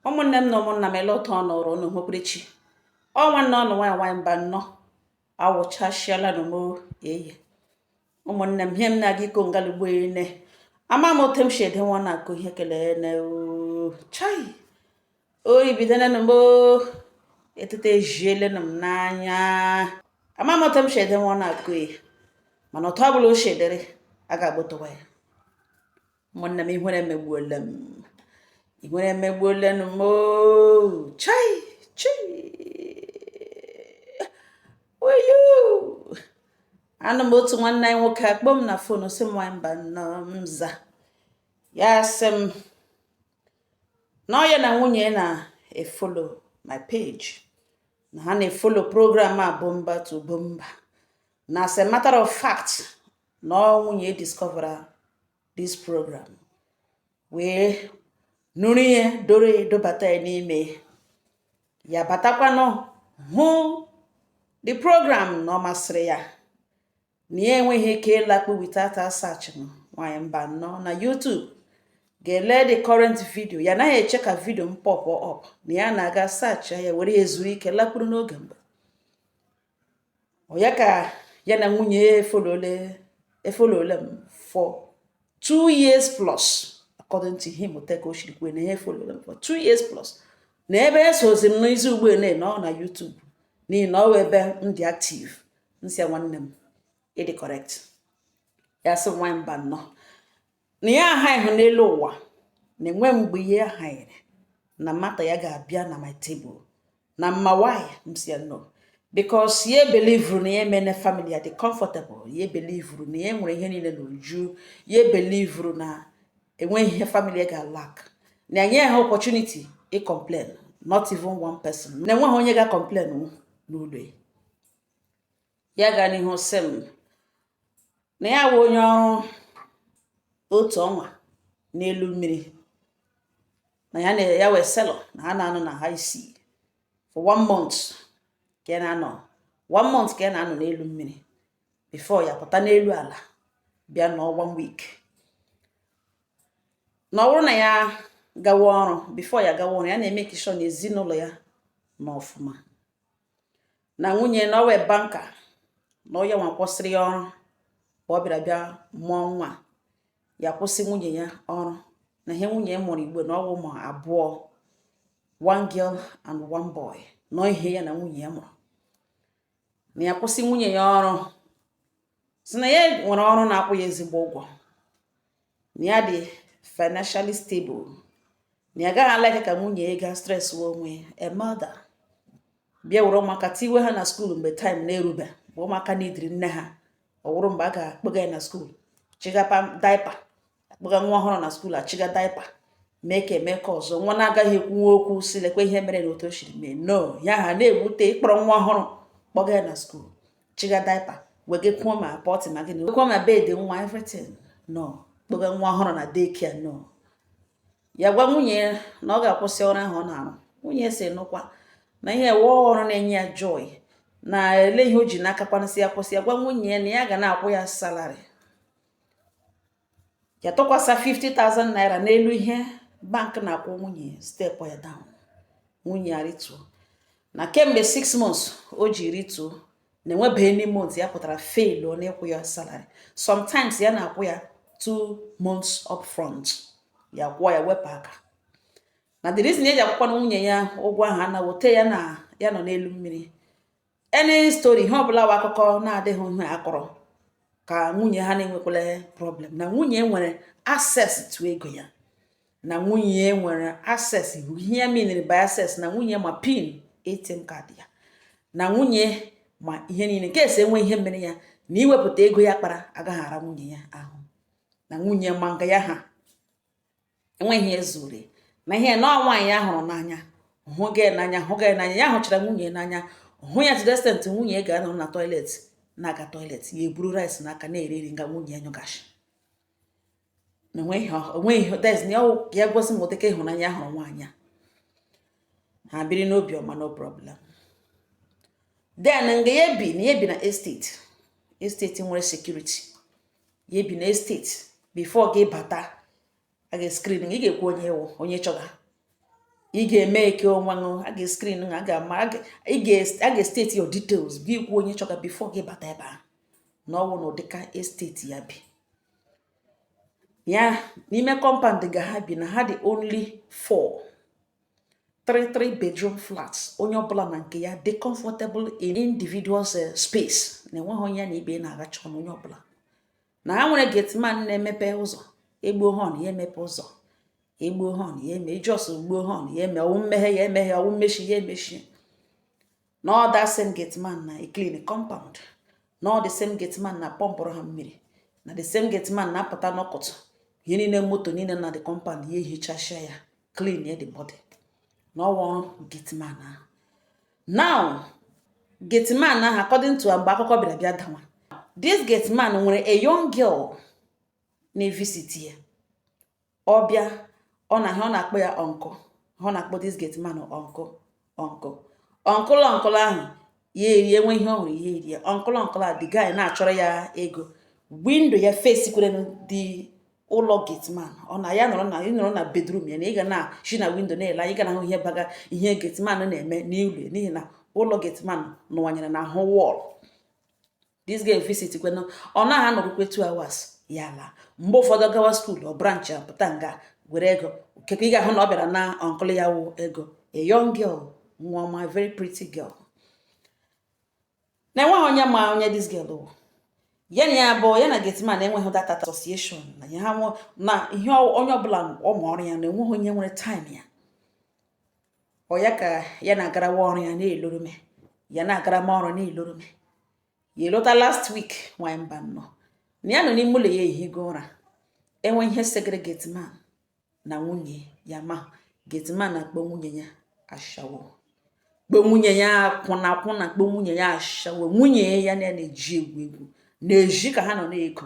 ụmụnne m na ụmụnna m ele otu ọ nọrọ unu hụpụrụchi ọ nwanne unu nwaanyị nwaanyị Mbano awụchasịalanụ m o eye ụmụnne m ihe m na-aga ịkọ ngalugbo ene ama m otu m si edewe ọnụ akọ ihe kelee na chai oyi bidolenụ m etete ejielenụ m n'anya ama m otu m si edewe ọnụ akọ ya mana otu ọ bụla o si dịrị a ga-agbotowa ya ụmụnne m ihere emegbuola m ihere emegbuolanụ m o chai chai oyo anọ m otu nwanne anyị nwoke akpọọ m na fon sị m nwaanyị Mbano m za ya sị m na ọ ya na nwunye na-efolo my page na ha na-efolo program a bumper to bumper na as a matter of fact na ọ nwunye ya discovera this program wee nụrụ ihe dọrọ ya dọbata ya n'ime ya batakwanụ hụ the program na ọ masịrị ya na ya enweghị ike ịlakpu without search nwanyị Mbano na YouTube gaa lee the current video ya naghị eche ka video m pop up na ya na-aga search ya were ezuru ike lakpuru n'oge mgbe ya ka ya na nwunye ya efolole efolole m for two years plus according to him otu ka o siri kwuo na ya efolole m for two years plus na ebe esozi m n'izu ugbu a na ọ na YouTube n'ihi na ọ wụ ebe m dị active m sị nwanne m ị dị correct ya sị m nwanyị Mbano na ya ahaghị n'elu ụwa na enwe mgbe ya ahaghịrị na matter ya ga-abịa na my table na ị ma why m sị ya no because ya belivuru na ya emene family ya dị comfortable ya belivuru na ya nwere ihe niile n'uju ya belivuru na enweghị ihe family ya ga-alak na-enye ha opportunity ị complain not even one person na enweghị onye ga-complain n'ụlọ ya ya gaa n'ihu sị m na ya wụ onye ọrụ otu ọnwa n'elu mmiri na ya wụ sailor na ha na-anọ na high sea for one month ka ya na-anọ one month ka ya na-anọ n'elu mmiri before ya pụta n'elu ala bịa nọ one week na ọ bụrụ na ya gawa ọrụ before ya gawa ọrụ ya na-emake sure na ezinụlọ ya nọ ọfụma na nwunye na ọ wụ banker na ọ yanwa kwụsịrị ya ọrụ ọ bịara bịa mụọ nwa ya kwụsị nwunye ya ọrụ na ihe nwunye ya mụrụ ugbu a na ọ wụ ụmụ abụọ one girl and one boy na ọ ihe ya na nwunye ya mụrụ na ya kwụsị nwunye ya ọrụ sị na ya nwere ọrụ na-akwụ ya ezigbo ụgwọ na ya dị financially stable na ya gaghị alike ka nwunye ya gaa stress onwe a mother bịa were ụmụaka tiwe ha na skuul mgbe taịm na-erube bụ ụmụaka needịrị nne ha ọ wụrụ mgbe a ga-akpọga ya na skuul chịga daipa akpọga nwa ọhụrụ na skuul achịga daipa mee ka eme ka ọzọ nwa na-agaghị ekwunwu okwu sị lekwa ihe mere na otu o siri mee no ya ha na-ewute ịkpọrọ nwa ọhụrụ kpọga ya na skuul chịga daipa wegakwuo ma pọtị ma gịnị wekwuo ma bed nwa everything no kpọga nwa ọhụrụ na daycare no ya gwa nwunye ya na ọ ga-akwụsị ọrụ ahụ ọ na-arụ nwunye sị nụkwa na ihe wụ ọrụ na-enye ya joy na ele ihe o ji na-akakwanụ sị ya kwụsị ya gwa nwunye ya na ya ga na-akwụ ya salary ya tụkwasa 50,000 naira n'elu ihe bank na-akwụ nwunye stepụọ ya down nwunye ya rituo na kemgbe 6 months o ji rituo na enwebeghị any month ya pụtara failụọ n'ịkwụ ya salary sometimes ya na-akwụ ya 2 months up front ya kwụọ ya wepụ aka na the reason ya ji akwụkwanụ nwunye ya ụgwọ ahụ anaghị ote ya na ya nọ n'elu mmiri any story ihe ọbụla wụ akụkọ na-adịghị ihe a kọrọ ka nwunye ha na-enwekwala problem na nwunye nwere access to ego ya na nwunye nwere access ihe ya mean by access na nwunye ma pin ATM card ya na nwunye ma ihe niile in case e nwee ihe mere ya na iwepụta ego ya kpara agaghị ara nwunye ya ahụ na nwunye ma nga ya ha enweghị ihe zoro ya na ihe na nwaanyị ya hụrụ n'anya hụ gị n'anya hụ gị n'anya ya hụchara nwunye n'anya hụ ya to the extent nwunye ga-anọ na toilet na-aga toilet ya eburu rice n'aka na-eri nri nga nwunye ya nyụga nshị na onweghị onweghị dez na ọwụ ka ya gosi m ụdịka ịhụnanya ya hụrụ nwaanyị a ha biri n'obi ọma no problem then nga ya bi na ya bi na esteti esteti nwere sekuriti ya bi na esteti bifo gị bata a ga-eskrin ị ga-ekwu onye ị wụ onye ị chọga ị ga-eme eke onwe ṅụ a ga-eskrin a ga-ama a ga-esteti your details gị kwuo onye ị chọga bifo gị bata ebe ahụ na ọwụ na ụdịka esteti ya bi ya n'ime kọmpand nga ha bi na ha dị only four three three bedroom flats onye ọbụla na nke ya dị comfortable in individual eh, space na enweghị onye na ibe na-agacha ọnụ onye ọbụla na ha nwere gateman na-emepe ụzọ egbuo họn ya emepe ụzọ egbuo họn ya eme i just gbuo họn ya eme ọwụ mmeghe ya emeghe ọwụ mmechi ya emechi na ọ that same gate man na-eclean compound na ọ the same gate man na-apọmpụrụ ha mmiri na the same gate man na-apụta n'ụtụtụ ihe niile moto niile na the compound ya ehichasịa ya clean ya the body na ọ wụ ọrụ gate man ahụ now gate man ahụ according to mgbe akụkọ bịara bịa dawa this gate man nwere a young girl na-evisit ya ọ bịa ọ na ihe ọ na-akpọ ya uncle ihe ọ na-akpọ this gate man uncle uncle uncle uncle ahụ ya erie enwe ihe ọ hụrụ ya erie uncle uncle a the guy na-achọrọ ya ego window ya facekwara the ụlọ gateman ọ na ya nọrọ na ị nọrọ na bedroom ya na ị ga na-eshi na window na-ele anya ị ga na-ahụ ihe baga ihe gateman na-eme n'ụlọ n'ihi na ụlọ gateman nọwanyere n'ahụ wall this girl visit kwena ọ naghị anọrukwe 2 hours ya alaa mgbe ụfọdụ gawa school ọ branch ya pụta nga were ego kekwa ị ga-ahụ na ọ bịara ịna uncle ya ahụ ego a young girl nwa ọma very pretty girl na enweghị onye ma onye this girl wụ ya na ya bụ ya na Gateman enweghị that association na ya ha na ihe onye ọbụla ọ ma ọrụ ya na enweghị onye nwere time ya ọ ya ka ya na-agarawa ọrụ ya na-elorome ya na-agarama ọrụ na-elorome ya elota last week nwanyị mba nnọọ na ya nọ n'ime ụlọ ya ehigo ụra enwe ihe segere gateman na nwunye ya ma gateman na-akpọ nwunye ya ashawo kpọọ nwunye ya akwụna akwụna kpọọ nwunye ya ashawo nwunye ya na-eji egwu egwu na-eji ka ha nọ na-ego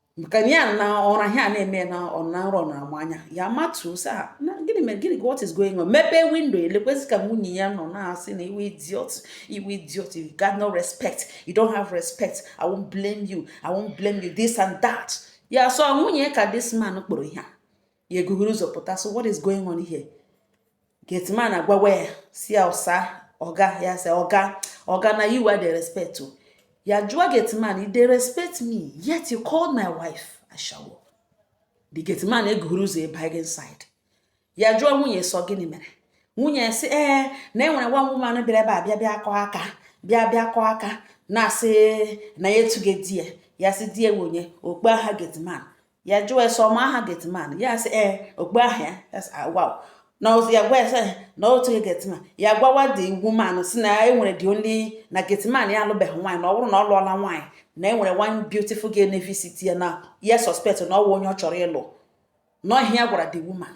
ka ya n'ụra ihe a na-eme na ọ na nrọ na ama anya ya matuo sị ha na gịnị mere gịnị what is going on mepee window elekwezi ka nwunye ya nọ na-asị na ị wụ idiot ị wụ idiot you got no respect you don't have respect i won't blame you i won't blame you this and that ya sị ọ nwunye ya ka this man kpọrọ ihe a ya eguhuru ụzọ pụta so what is going on here gateman agwawa ya sị ya ọsa ọga ya sị ọga ọga na you I dey respect o ya jụọ gateman you dey respect me yet you call my wife ashawo the gateman eguhuru ụzọ abanye inside ya jụọ nwunye sị ọ gịnị mere nwunye sị ee eh, na enwere one woman bịara ebe a bịa bịa kụọ aka bịa bịa kụọ aka na-asị na ya etughị di ya ya sị di ya onye ọ kpọọ aha gateman ya jụọ ya sị ọ ma aha gateman ya sị ee ọ kpọọ aha ya agwa na ozi ya gwa ya sị na otu gị gateman ya gwawa the woman sị na enwere dị onye na gateman ya alụbeghị nwaanyị na ọ bụrụ na ọ lụọla nwaanyị na enwere one beautiful girl na-evisit ya na ya suspect na ọ wụ onye ọ chọrọ ịlụ na ọ ihe ya gwara the woman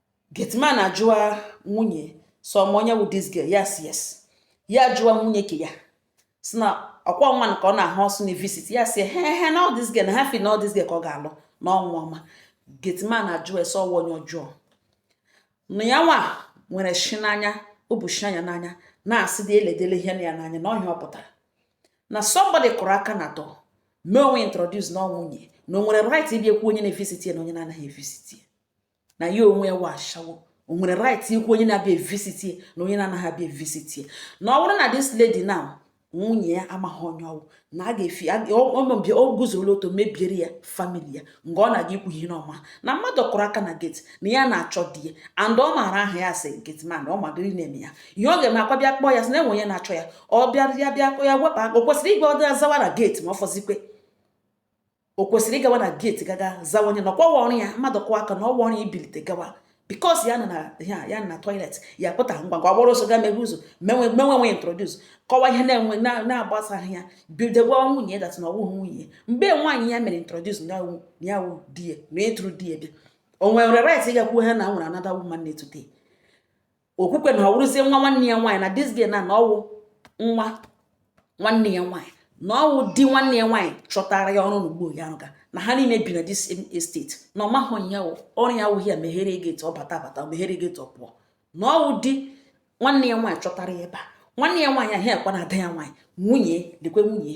Gateman ajụwa nwunye sị ọ ma onye wụ this girl yes yes ya jụọ nwunye ke ya si na ọkwa nwa nke ọ na-ahụ ọsụ na visit ya si he he na ọ this girl na ha fi na ọ this girl ka ọ ga-alụ n'ọnwa ọma gateman ajụ ya sị ọ wa onye ọjọọ na ya nwa nwere ishi n'anya ụbọchị anya n'anya na-asị dị eledele ihe na ya n'anya na ọhịa ọ pụtara na somebody kụrụ aka na atọ mee onwe introduce na ọ nwunye na o nwere right ịbịa ekwu onye na-evisit ya na onye na-anaghị evisit ya na ya onwe ya wa ashawo o nwere right ikwu onye na-abịa evisit ya na onye na-anaghị abịa evisit ya na ọ bụrụ na this lady now nwunye ya amaghị onye ọ wụ na a ga-efi ọmọbịa o guzola otu mebiere ya family ya mgbe ọ na-aga ikwu ihe n'ọma na mmadụ kụrụ aka na gate na ya na-achọ di ya and ọ maara aha ya sị gateman ọ madịrị na-eme ya ihe ọ ga-eme ọkwa ịbịa kpọọ ya sị na e nwe onye na-achọ ya ọ bịa ya bịa ya wepụ aka o kwesịrị ịgwa ọdị azawa na gate ma ọ fọzikwe o kwesịrị ịgawa na gate gaga zawa onye na ọkwa wa ọrụ ya mmadụ kụọ aka na ọ wa ọrụ ya ibilite gawa because ya nọ na ya ya na toilet ya pụta ngwa ngwa gbara ọsọ gaa mepe ụzọ mee onwe mee onwe ya introduce kọwa ihe na-enwe na-agbasaghị ya bido gwa nwunye that na ọ wụghị nwunye mgbe nwaanyị ya mere introduce na ya wụ di ya na ịtụrụ di ya bịa o nwere right ịga ekwu ha na e nwere another woman na-etute o kwukwee na ọ wụrụzie nwa nwanne ya nwaanyị na this girl na ọ wụ nwa nwanne ya nwaanyị na ọ wụ di nwanne ya nwaanyị chọtara ya ọrụ n'ugbo ya rụga na ha niile bi na this estate na ọ mahụ ya ọrụ ya awụghị ya meghere gate ọ bata bata meghere gate ọ pụọ na ọ wụ di nwanne ya nwaanyị chọtara ya ebe a nwanne ya nwaanyị ahụ ọkwa na ada ya nwaanyị nwunye lekwa nwunye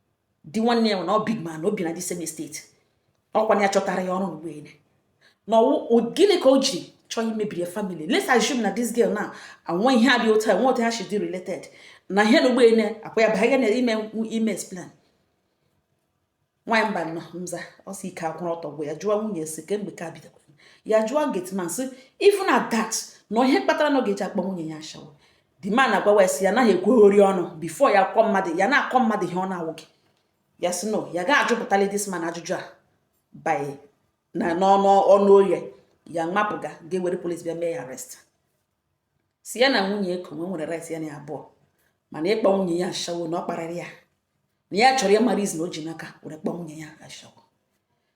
di nwanne ya na ọ big man o bi na the same estate ọkwa na ya chọtara ya ọrụ nụ ugbu a na gịnị ka o ji chọọ imebiri family let's assume na this girl na e nwe ihe dị otu a e nwe otu ha should be related na ihe nụ ugbu a ọkwa ya ba ya na ime ime explain nwaanyị mba nọ mza ọ sị ike akwụrụ ọtọ bụ ya jụọ nwunye si kemgbe ka bidoro ya jụọ gateman sị even at that na ihe kpatara na ọ ga-eji akpọ nwunye ya ashawo the man agwawa ya sị ya anaghị ekweghori ọnụ before ya akọ mmadụ ya na-akọ mmadụ ihe ọ na-awụghị ya sị no ya gaghị ajụpụtali this man ajụjụ a by na n'ọnụ ọnụ oye ya mapụga ga-ewere police bịa mee ya arrest si ya na nwunye eko nwe nwere rights ya na abụọ mana ịkpọ nwunye ya ashawo na ọ kparịrị ya na ya chọrọ ya marazie na o ji n'aka were kpọọ nwunye ya ashawo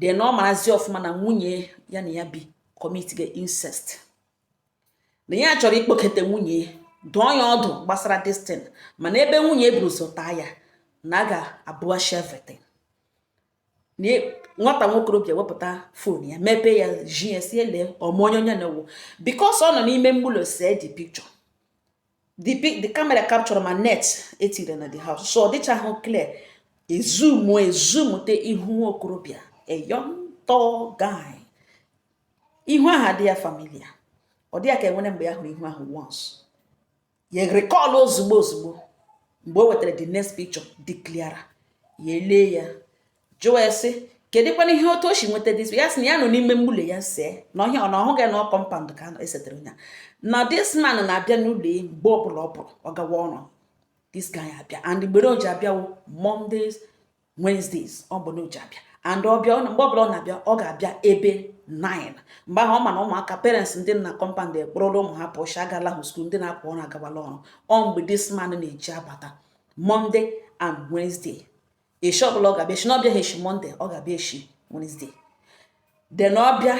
then ọ marazi ọfụma na nwunye ya na ya bi commit ga incest na ya chọrọ ikpokete nwunye dụọ ya ọdụ gbasara this thing mana ebe nwunye buru ụzọ taa ya na a ga-abụghachi everything na e, nwata nwokorobịa wepụta phone ya mepee ya zi ya sị ya lee ọ ma onye onye na wụ because ọ nọ n'ime ụlọ see the picture the camera capture ma net etire na the house so ọ dịchaghị clear e zoom e zoomute ihu nwa okorobịa a young tall guy ihu ahụ adị ya familiar ọ dị ya ka e nwere mgbe ya hụrụ ihu ahụ once ya recall ozugbo ozugbo mgbe o wetara the next picture dị clearer ya elee ya jụọ ya sị kedụkwana ihe otu o si nweta this ya sị na ya nọ n'ime mgbule ya see na ọhịa ọ na ọ wụghị na compound ka e setere ya na this man na-abịa n'ụlọ ya mgbe ọbụla ọ pụrụ ọ gawa ọrụ this guy abịa and mgbe o ji abịa wụ mondays wednesdays ọ bụ na o ji abịa and ọ bịa mgbe ọbụla ọ na-abịa ọ ga-abịa ebe 9 mgbe ahụ ọ ma na ụmụaka parents ndị nọ na compound akpọrọla ụmụ ha pụọ shi agala hụ school ndị na-apụ ọrụ agawala ọrụ ọ mgbe this man na-eji abata monday and wednesday eshi ọbụla ọ ga-abịa e shi na ọ bịaghị eshi monday ọ ga-abịa eshi wednesday then ọ bịa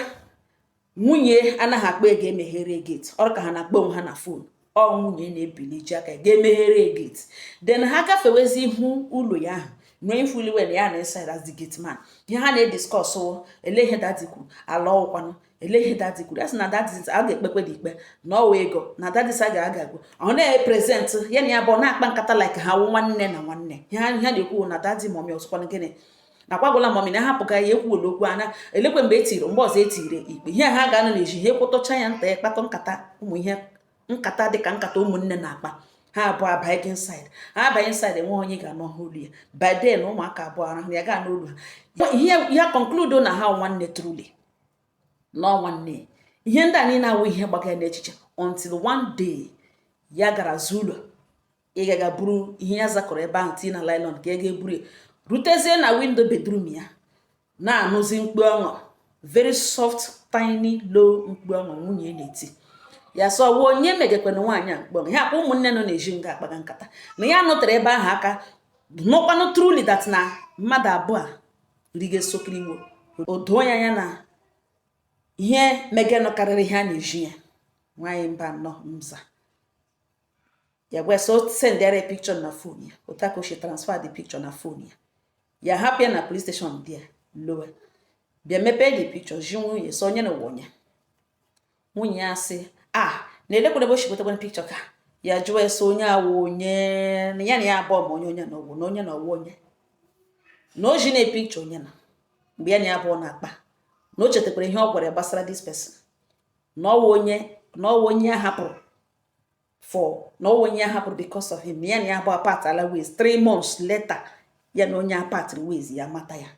nwunye anaghị akpọ ya ga emeghere gate ọ dị ka ha na-akpọ onwe ha na phone ọ nwunye na-ebili ji aka ga emeghere gate then ha gafewezi ihu ụlọ ya ahụ nwee ifuliwe na ya nọ inside as the gate man ihe ha na-ediscuss wụ ele ihe daddy kwuru ala ọkwanụ ele ihe daddy kwuru ya sị na daddy a ga-ekpekwe the ikpe na ọ wụ ego na daddy sị a ga-agagbu ọ na-epresent ya na ha abụọ na-akpa nkata like ha wụ nwanne na nwanne ihe ha na-ekwu na daddy mommy ọ sịkwanụ gịnị na kwagwala mommy na ahapụga ya ekwuola okwu ana elekwe mgbe e tiri mgbe ọzọ e tiri ikpe ihe ha ga-anọ n'ezi ihe kwutucha ya nta ya kpatụ nkata ụmụ ihe nkata dịka nkata ụmụnne na-akpa ha abụọ abanyezi inside ha abanye inside enweghị onye ga-anụ ha olu ya by then ụmụaka abụọ arahụ ya ga-anụ olu ha ihe ya concludo na ha wụ nwanne truly na ọ nwanne ihe ndị a niile a wụ ihe gbaga ya n'echiche until one day ya gara azụ ụlọ ịga ga buru ihe ya zakọrọ ebe ahụ tii na nylon ka ọ ga eburu ya rutezie na window bedroom ya na-anụzi mkpu ọṅụ very soft tiny low mkpu ọṅụ nwunye na-eti ya sị ọ wụ onye megekwanụ nwaanyị a mkpu ọṅụ ya kwa ụmụnne nọ n'ezi nga akpaga nkata na ya nụtara ebe ahụ aka nụkwanụ truly that na mmadụ abụọ ndị ga-esokiri igbo o doo ya anya na ihe megenụ karịrị ihe a na-eji ya nwaanyị mba nọ mza ya gwa so sendịara picture na phone ya otu aka ochie transfer the picture na phone ya ya hapụ ya na police station di ya lọwa bịa mepee the picture zi nwunye sị ọ onye na wụ onye nwunye ya sị ya na elekwere ebe o shi gotakwara picture ka ya jụọ ya sị onye a wụ onye na ya na ya abụọ ma onye onye na ọ wụ na onye na ọ wụ onye na o ji na picture onye na mgbe ya na ya abụọ na-akpa na o chetakwara ihe ọ gwara ya gbasara this person na ọ wụ onye na ọ wụ onye ya hapụrụ for na ọwụ onye hapụrụ because of him ya na ya abụọ apartala ways three months later ya na onye apart ways ya mata ya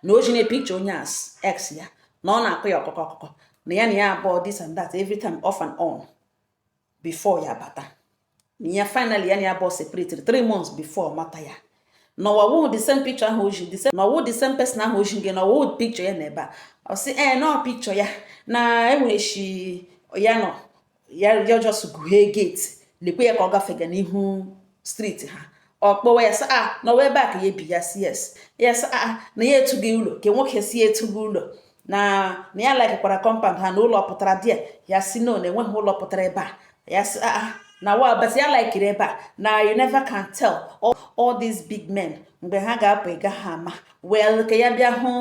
na o ji na picture onye as ex ya na ọ na-akọ ya akụkọ akụkọ na ya na ya abụọ this and that every time off and on before ya bata na ya finally ya na ya abụọ separate three months before mata ya na ọwụ the same picture ahụ o ji the same na ọwụ the same person ahụ o ji gị na ọwụ picture ya na ebe a ọ sị ee eh, na picture ya na enwere shi ya nọ ya ya just guhee gate lekwe ya ka ọ gafega n'ihu street ha ọ kpọwa ya sị a ah, na ọkwa ebe a ka ya ebi ya si yes ya sị a ah, na ya etughị ụlọ ka nwoke si etughị ụlọ na na ya laikikwara compound ha na ụlọ pụtara dị ya ya si no na enweghị ụlọ pụtara ebe a ya sị a ah, na wa but ya laikiri ebe a na you never can tell all, all these big men mgbe ha ga-apụ ị gaha ama well ka ya bịa hụ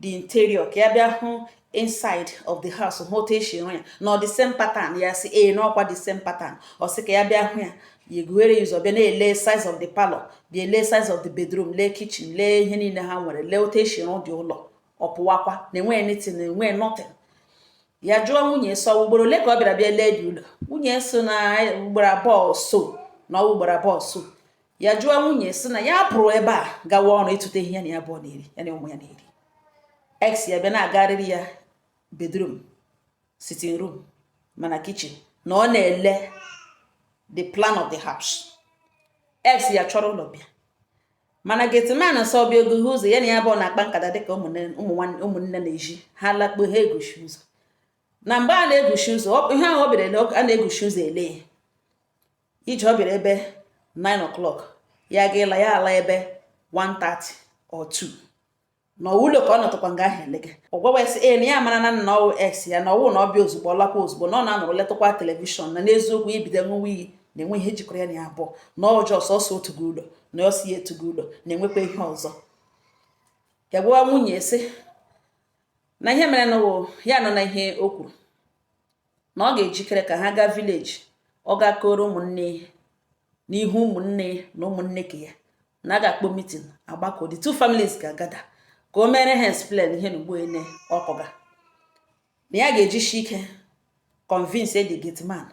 the interior ka ya bịa hụ inside of the house hụ otu esi rụ ya na ọ the same pattern ya si ee na ọkwa the same pattern ọ sị ka ya bịa hụ ya ya eguhere ya ụzọ bịa na-ele size of the parlor bịa lee size of the bedroom lee kitchen lee ihe niile ha nwere lee otu esi rụ the ụlọ ọ pụwakwa na enweghị anything na enweghị nothing ya jụọ nwunye so ugboro ole ka ọ bịara bịa lee the ụlọ nwunye sị na ugboro abụọ so na ugboro abụọ so ya jụọ nwunye si na ya pụrụ ebe a gawa ọrụ ịtụta ihe ya na ya abụọ na-eri ya na ụmụ ya na-eri ex ya bịa na-agarịrị ya bedroom sitting room ma na kitchen na ọ na-ele the plan of the house ex ya chọrọ ụlọ bịa mana gate man sị ọ bịa o guhe ụzọ ya na ya abụọ na-akpa nkata dịka ụmụnne na-eji ha lakpuo ha eguchi ụzọ na mgbe ha na-eguchi ụzọ ihe ahụ ọ bịara a na-eguchi ụzọ ele ya ije ọ bịara ebe 9 o'clock ya ga ịla ya ala ebe 1:30 or 2 na ọwụ ụlọ ka ọ nọtụkwa nga ahụ elega ọ gwawa ya sị ee na ya mara na na ọwụ ex ya na ọwụ na ọ bịa ozugbo ọ lakwa ozugbo na ọ na-anọrọ letụkwa television na n'eziokwu o bido ṅụwa iyi na enwe ihe jikọrọ ya na ya abụọ na ọjọọ sọsọ otu gị ụlọ na ọ sị ya etughị ụlọ na enwekwa ihe ọzọ ya gwawa nwunye sị na ihe mere na ya nọ na ihe o kwuru na ọ ga-ejikere ka ha gaa village ọ ga-akọrọ ụmụnne ihe n'ihu ụmụnne na ụmụnne nke ya na a ga-akpọ meeting agbakọ the two families ga-agather ka o mere ha explain ihe na ugboele ọ kọga na ya ga-ejishi ike convince the gate man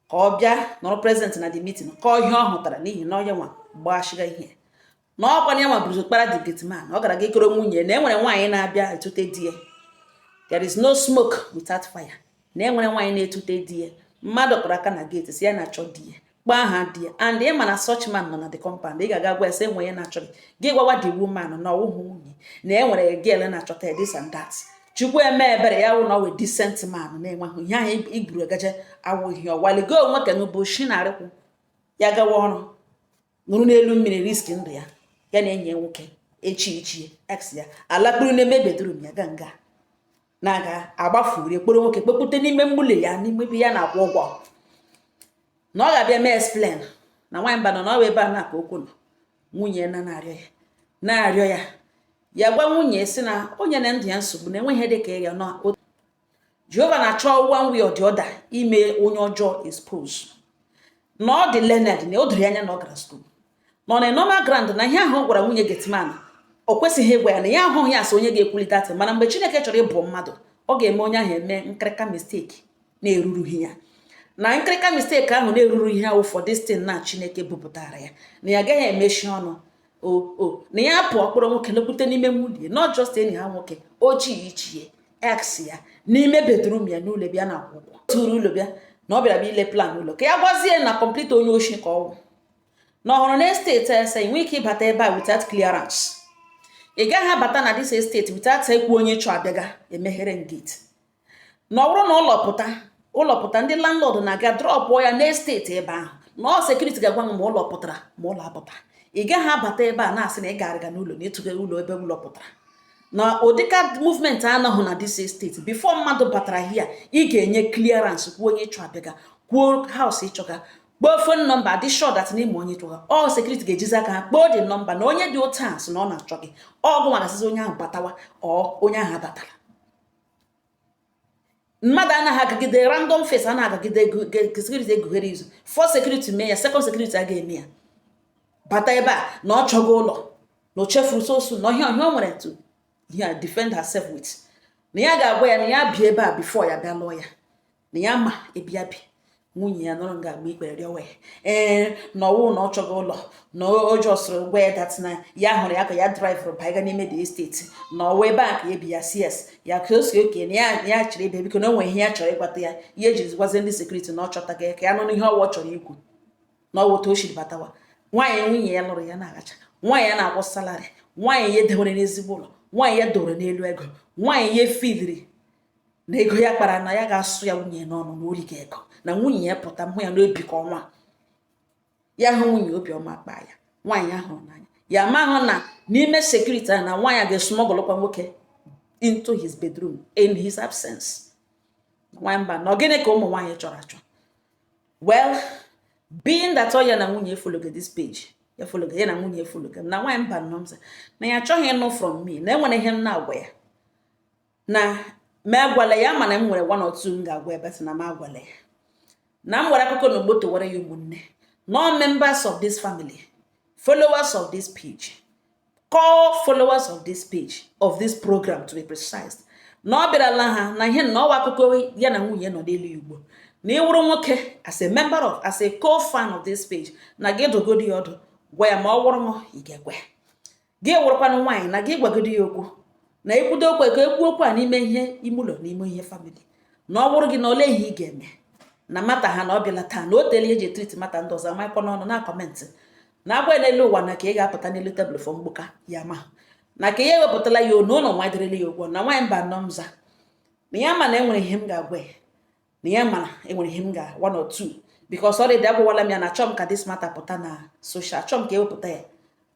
ka ọ bịa nọrọ present na the meeting kọọ ihe ọ hụtara n'ihi na ọ ya nwa gbashiga ihe na ọkwa na ya nwa bụrụ kpara the gate man ọ gara ga kọrọ nwunye na enwere nwaanyị na-abịa etute di ya there is no smoke without fire na enwere nwaanyị na-etute di ya mmadụ kụrụ aka na gate sị ya na-achọ di ya kpọọ aha di ya and ị ma na such man nọ na the compound ị ga-aga gwa ya sị enwe ya na-achọ gị gị gwawa the woman na ọ wụhụ nwunye na enwere girl na-achọta ya this and that chukwu eme ebere ya wụ na ọ wụ decent man na-enweghị ihe ahụ iburu gaje awụghị ọwaligo onwe ka n'ụbọchị na-arịkwụ ya gawa ọrụ nọrọ n'elu mmiri risk ndụ ya ya na enyi ya nwoke ochie ochie ex ya alakpuru n'ime bedroom ya ga nga na-aga agbafurie kpọrọ nwoke kpọpụta n'ime ụlọ ya n'ime ebe ya na-akwụ ụgwọ na ọ ga-abịa mee explain na nwaanyị mba nọ na ọwa ebe a na-aka okwu nọ nwunye na na-arịọ ya na-arịọ ya ya gwa nwunye sị na o nyena ndụ ya nsogbu na enweghị dị ka ya nọ jehova na-achọ one way or the other ime onye ọjọọ expose na ọ dị learned na o doro anya na ọ gara school nọ na normal ground na ihe ahụ ọ gwara nwunye gateman o kwesịghị ịgwa ya na ya ahụghị ya asị onye ga-ekwulite atị mana mgbe chineke chọrọ igbu mmadụ ọ ga-eme onye ahụ eme nkịrịka mistake na-erurughị ya na nkịrịka mistake ahụ na-eruru ihe ụfọdụ since na chineke bupụtara ya na ya agaghị emechi ọnụ o o na ya pụọ kpọrọ nwoke lekwute n'ime ụlọ ya not just enyi ya nwoke ochie ochie ex ya n'ime bedroom ya n'ụlọ ya na-akwụ ụgwọ chọrọ ụlọ bịa na ọ bịara bịa ile plan ụlọ ka ya gwazie na complete onye oshi ka ọwụ na ọhụrụ na estate a sị ị nwee ike ịbata ebe a without clearance ị gaghị abata na this estate without ikwu onye ịchọ abịaga emeghere gate na ọ bụrụ na ụlọ pụta ụlọ pụta ndị landlord na-aga drọpụọ ya n'estate ebe ahụ na ọ security ga-agwa m ma ụlọ pụtara ma ụlọ apụta ị gaghị abata ebe a na-asị na ị ga-arịga n'ụlọ na ịchọga ụlọ ebe ụlọ pụtara na ụdịka movement anọghị na this estate before mmadụ batara here ị ga-enye clearance kwuo onye ịchọ abịaga kwuo house ịchọga kpọọ phone number dị sure that na ị ma onye ịchọga ọ security ga-ejizi aka ha kpọọ the number na onye dị otu a sị na ọ na-achọ gị ọ gị nwa na-asịzi onye ahụ batawa ọ onye ahụ abatara mmadụ anaghị agagide random face anaghị agagide security egughere izu first security mee ya second security a ga-eme ya bata ebe a na ọ chọga ụlọ na o chefuru sọsọ ihe ihe a o nwere to ya defend herself with na ya ga-agwa ya na ya bi ebe a before ya bịa lụọ ya na ya ma ebe ya bi nwunye ya nọrọ nga agba ikpere rịọwa ya ee na ọwụ na ọ chọga ụlọ na ọ jọsụrụ gwa ya that na ya hụrụ ya ka ya draịvụrụ baiga n'ime the estate na ọwa ebe a ka ebi ya sị ya ka o sị okay na ya chịrị ebe biko na o nwere ihe ya chọrọ ịgbata ya ihe eji gwazie ndị security na ọ chọtaga ya ka ya nọ n'ihe ọwa ọ chọrọ ikwu na ọwa otu o siri batawa nwaanyị nwunye ya lụrụ ya na-agacha nwaanyị ya na-akwụ salary nwaanyị ya dewere n'ezigbo ụlọ nwaanyị ya dowere n'elu ego nwaanyị ya fidiri na ego ya kpara na ya ga-asụ ya nwunye n'ọnụ na o riga ego na nwunye ya pụta mụ ya n'obi ka ọnwa ya hụ nwunye obiọma kpaa ya nwaanyị ahụ n'anya ya amahụ na n'ime sekuriti a na nwaanyị ga-esumọgọlụkwa nwoke into his bedroom in his absence nwaanyị mba na gịnị ka ụmụ nwaanyị chọrọ achọ well being that ọ ya na nwunye efologo this page ya fologo ya na nwunye efologo na nwaanyị Mbano na ya achọghị ịnụ from me na enwere ihe m na-agwa ya na m agwala ya mana m nwere one or two m ga-agwa ebe sị na m agwala ya na m were akụkọ n'ọgbọ tọwara ya ụmụnne no members of this family followers of this page core followers of this page of this program to be precise na ọ bịarala ha na ihe na ọwa akụkọ ya na nwunye nọ n'elu ugbu a na ị wụrụ nwoke as a member of as a core fan of this page na gị dụgodi ya ọdụ gwa ya ma ọ wụrụ m ị ga-ekwe gị wụrụkwanụ nwaanyị na gị gwagodi ya okwu na ekwudo okwu ka ekwu okwu a n'ime ihe ime ụlọ n'ime ihe famili na ọ wụrụ gị na ole ihe ị ga-eme na mata ha na ọ bịala taa na o tele eji etriti mata ndị ọzọ amaịkọ n'ọnụ na kọmentị na agwa n'elu ụwa na ka ị ga-apụta n'elu tebụl fọ mgbuka ya ma na ka ya ewepụtala ya onu ụlọ nwa dịrịla ya ụgwọ na nwaanyị Mbano mza na ya ma na enwere ihe m ga-agwa ya na ya mana enwere ihe m ga one or two because already agwawala m ya na achọ m ka this matter pụta na social achọ m ka ewepụta ya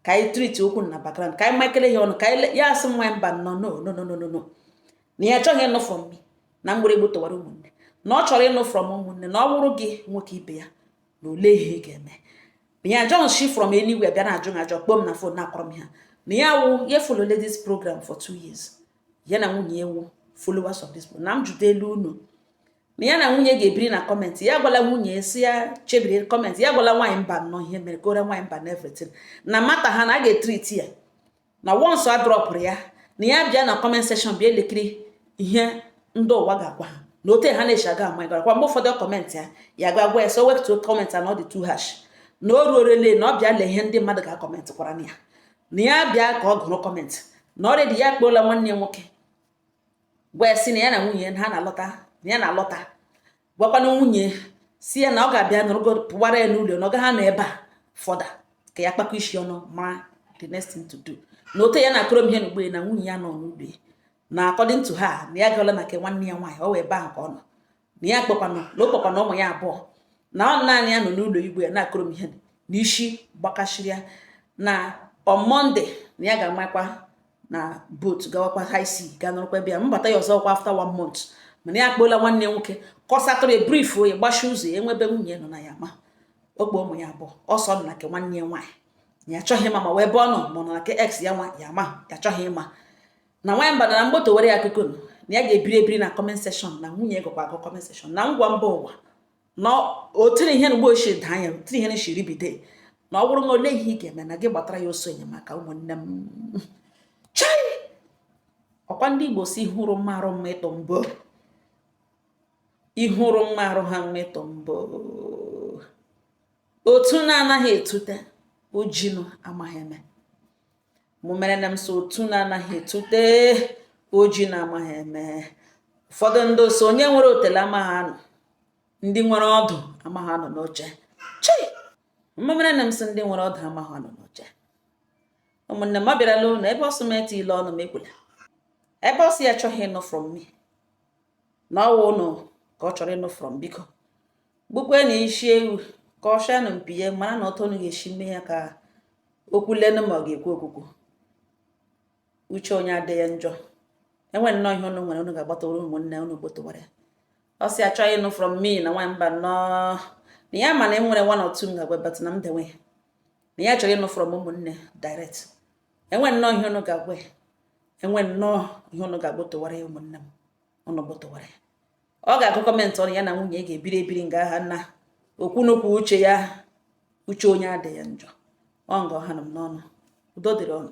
ka anyị triti okwu na background ka anyị makele ya ọnụ ka ya asị nwaanyị Mbano no no no no no na ya achọghị ịnụ from me na mgbịrịgbu tọwara ụmụnne na ọ chọrọ ịnụ from ụmụnne na ọ bụrụ gị nwoke ibe ya na ole ihe ị ga-eme na ya ajọghị shi from anywhere bịa na-ajụ m ajụ kpọọ m na fon na-akọrọ m ha na ya wụ ya efolola this program for two years ya na nwunye wụ followers of this program na m jụta elu unu na ya na nwunye ga-ebiri na kọmentị ya gwala nwunye sị ya chebiri kọmentị ya gwala nwaanyị Mbano ihe mere ka ore nwaanyị mba na everything na mata ha na a ga-etriti ya na once a drọpụrụ ya na ya bịa na comment section bịa elekiri ihe ndị ụwa ga-agwa ha na ote ha na-eji aga ama gara kwa mgbe ụfọdụ kọmentị ya ya ga-agwa ya sị o wetuo kọmentị a na ọ dị too harsh na o ruorele na ọ bịa lee ihe ndị mmadụ ga-akọmentị kwara na ya na ya bịa ka ọ gụrụ kọmentị na already ya akpọọla nwanne ya nwoke gwa ya sị na ya na nwunye ha na-alọta na ya na-alọta gwakwana nwunye sị ya na ọ ga-abịa nọrọgo pụwara ya n'ụlọ na ọ gaghị anọ ebe a fọda ka ya kpakọ isi ọnụ mara the next thing to do na ote ya na-akọrọ m ihe na ugbu a na nwunye ya nọ n'ụlọ na according to her na ya gaala na nke nwanne ya nwaanyị ọ wụ ebe ahụ ka ọ nọ na ya kpọkwanụ na ọ kpọkwanụ ụmụ ya abụọ na ọ naanị ya nọ n'ụlọ ugbu a ya na-akọrọ m ihe na isi gbakasịrị ya na on Monday na ya ga-amakwa na boat gawakwa high sea ga nọrọkwa ebe ya mbata ya ọzọ kwa after one month mana ya akpọla nwanne nwoke kọsatụrụ ya brief oyi gbachi ụzọ ya enwebe nwunye nọ na ya ma ọ kpọ ụmụ ya abụọ ọ sị ọ nọ na nke nwanne ya nwaanyị ya achọghị ịma ma ọ wụ ebe ọ nọ ma ọ nọ na nke ex ya nwa ya ma ya achọghị ịma na nwanyị mba na m gbotụwara ya akụkọ na ya ga-ebiri ebiri na comment section na nwunye gụkwa agụ comment section na ngwa mba ụwa na otiri ihe na mgbe ochie daa anya tiri ihe na shiri bide na ọ bụrụ na ole ihe ị ga-eme na gị gbatara ya ọsọ enyemaka ụmụnne m chai ọkwa ndị igbo sị hụrụ mma arụ mma ịtọ mbụ ihụrụ mma arụ ha mma ịtọ mbụ otu na-anaghị etute ojinu amaghị eme mụ mere na m sị otu na-anaghị etute ojinu amaghị eme ụfọdụ ndị sị onye nwere otele amaghị anọ ndị nwere ọdụ amaghị anọ n'oche chi mụ mere na m sị ndị nwere ọdụ amaghị anọ n'oche ụmụnne m ọ bịarala ụnụ ebe ọ sị m etile ọnụ m ekwula ebe ọ sị ya achọghị ịnụ from me na ọ wụ ụnụ ka ọ chọrọ ịnụ from biko gbukwe na isi ewu ka ọ shanụ mpi ya mara na otu unu ga-esi mee ya ka o kwuo lenụ ma ọ ga-ekwu okwukwu uche onye adị ya njọ enwe nnọọ ihe unu nwere unu ga-agbotụwara ụmụnne unu gbotụwara ya ọ sị achọghị ịnụ from me na nwa mba nnọọ na ya ma na e nwere one or two m ga-agwa but na m dewe ya na ya chọrọ ịnụ from ụmụnne direct enwe nnọọ ihe unu ga-agwa ya enwe nnọọ ihe unu ga-agbotụwara ya ụmụnne m unu gbotụwara ya ọ ga-agụ comment unu ya na nwunye ga-ebiri ebiri nga ahụ na okwu n'okwu uche ya uche onye adị ya njọ ọ nga ọha nọ m n'ọnụ udo dịrị unu